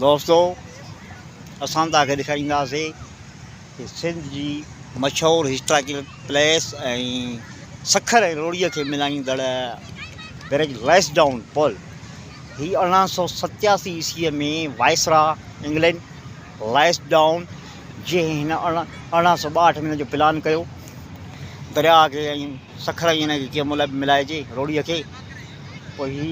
دوستو اسان توهان کي ڏيکارينداسي ته سنڌ جي مشهور هسٽاريڪل پليس ۽ سکر ۽ روهڙيء کي ملائيندڙ برج ليس ڊائون پل هي ارڙهن سؤ ستياسي عيسويء ۾ وائسراء انگلينڊ ليس ڊائون جنهن هن ارڙهن سؤ ٻاهٺ ۾ ان جو پلان ڪيو درياهه کي ۽ سکر ۽ ان کي ڪيئن ملائجي روهڙيء کي پوء هي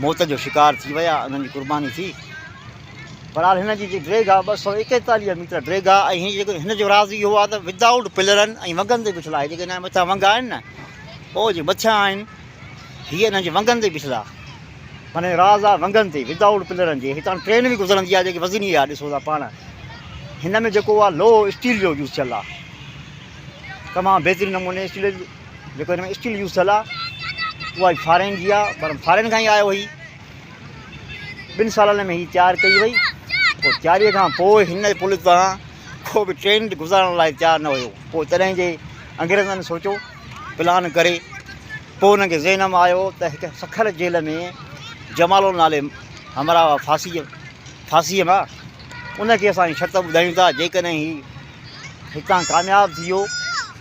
موت جو شڪار ٿي ويا انهن جي قرباني ٿي برحال هن جي جي ڊريگهه آهي ٻه سؤ ايڪيتاليهه ميٽر ڊريگهه آهي ۽ جيڪو هن جو راز اهو آهي ته ود آئوٽ پلرن ۽ ونگن تي بيٺل آهي جيڪي هن جا مٿيان ونگ آهن نه او جي مٿيان آهن هي انهن جي ونگن تي بيٺل آهي معنی راز آهي ونگن تي ود آئوٽ پلرن جي هتان ٽرين به گذرندي آهي جيڪي وزني آهي ڏسو ٿا پاڻ هن ۾ جيڪو آهي لوهه اسٽيل جو يوز ٿيل آهي تمام بهترين نموني اسٽيل جيڪو هن ۾ اسٽيل يوز ٿيل آهي اها فارين جي آهي پر فارين کان ئي آيو هي ٻن سالن ۾ هي تيار ڪئي وئي پوء تياري کان پوء هن پل تان ڪو به ٽرين گذارڻ لاء تيار نه هيو پوء تڏهن جي انگريزن سوچو پلان ڪري پوء هن کي ذهن ۾ آيو ته هڪ سکر جيل ۾ جمالو نالي همراهه هئا ڦاسي ڦاسي ما ان کي اسان شرط ٻڌايون ٿا جيڪڏهن هي هتان ڪامياب ٿي ويو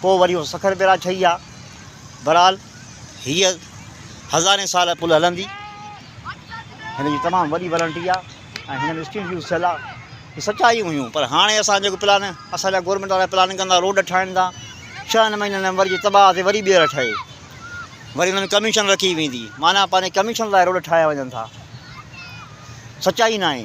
پوء وري اهو سکر بئراج ٺهي ها. بهرحال هيء هزارين سال پل هلندي. هن جي تمام وڏي وارنٽي آ ۽ هن ۾ اسٽيل يوز ٿيل آ. هي سچائيون هيون پر هاڻي اسان جيڪو پلان اسان جا گورنمينٽ وارا پلان ڪندا روڊ ٺاهين ٿا ڇهن مهينن ۾ وري جي تباهه تي وري ٻيهر ٺهي وري ان ۾ ڪميشن رکي ويندي معنيٰ پنهنجي ڪميشن لاء روڊ ٺاهيا وڃن ٿا سچائي ناهي.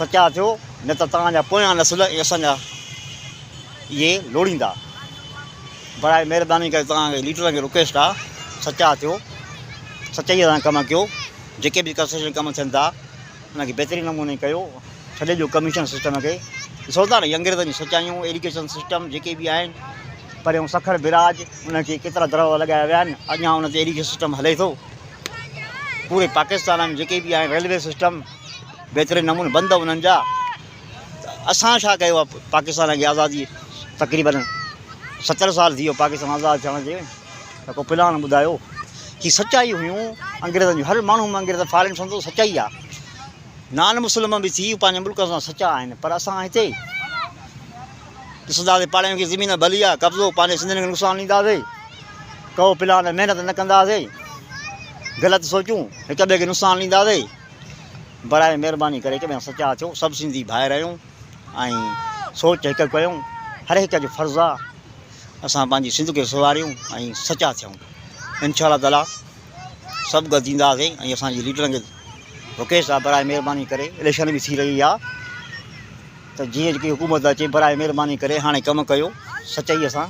سچا ٿيو، نه ته توهان جا پويان نسل ۽ اسان جا اهي لوڙيندا. براء مهرباني ڪري توهان کي ليڊرن کي رڪويسٽ آ سچا ٿيو، سچائيء سان ڪم ڪيو، جيڪي به ڪنسٽرڪشن ڪم ٿين ٿا انهن کي بهترين نموني ڪيو، ڇڏي ڏيو ڪميشن سسٽم کي، ڏسو ٿا نه هي انگريزن جون سچايون، ايڊيوڪيشن سسٽم جيڪي به آهن، پريون سکر، بئراج انهن کي ڪيترا دروازا لڳايا ويا آهن، اڃان ان تي ايڊيوڪيشن سسٽم هلي ٿو. پوري پاڪستان ۾ جيڪي به آهن ريلوي سسٽم بهترين نموني بند انهن جا ته اسان ڇا ڪيو آهي پاڪستان کي آزادي تقريبن ستر سال ٿي ويو پاڪستان آزاد ٿيڻ جي ته ڪو پلان ٻڌايو هي سچائي هيون انگريزن جون هر ماڻهو ۾ انگريز فارين سمجهو سچائي آ نان مسلم به ٿي پنهنجي ملڪ سان سچا آهن پر اسان هتي ڏسنداسين پاڙياڻين کي زمين ڀلي آ قبضو پنهنجي سنڌين کي نقصان ڏينداسين ڪئو پلان محنت نه ڪنداسين غلط سوچون هڪ ٻئي کي نقصان ڏينداسين برائي مهرباني ڪري هڪ ٻئي سچا ٿيو سڀ سنڌي ڀائر آهيون ۽ سوچ هڪ ڪيو هر هڪ جو فرض آ اسان پنهنجي سنڌ کي سواريون ۽ سچا ٿيون انشاء الله تعالی سڀ گڏ ٿينداسين ۽ اسان جي ليڊرن کي رڪيش صاحب برائي مهرباني ڪري اليڪشن به ٿي رهي آ ته جيئن جيڪي حڪومت لاء چئي براء مھرباني ڪري ھاڻي ڪم ڪيو سچائي سان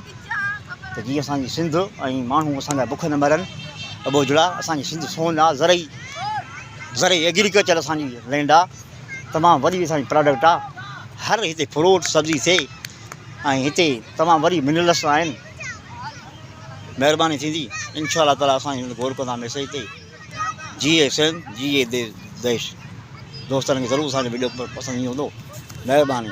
ته جيئن اسان جي سنڌ ۽ ماڻھو اسان جا بک نه مرن ابوجھڙا اسان جي سنڌ سون آ زرعي زرعي ايگريڪلچر اسان جي لينڊ آ تمام وڏي اسان جي پراڊڪٽ آ ھر ھتي فروٽ سبزي ٿئي ۽ ھتي تمام وڏي منرلس آھن مھرباني ٿيندي انشاء الله تعالي اسان ھن غور ڪندا مسئلي تي. جي حسين جي اي ديش. دوستن کي ضرور اسان جو وڊيو پسند ايندو مھرباني.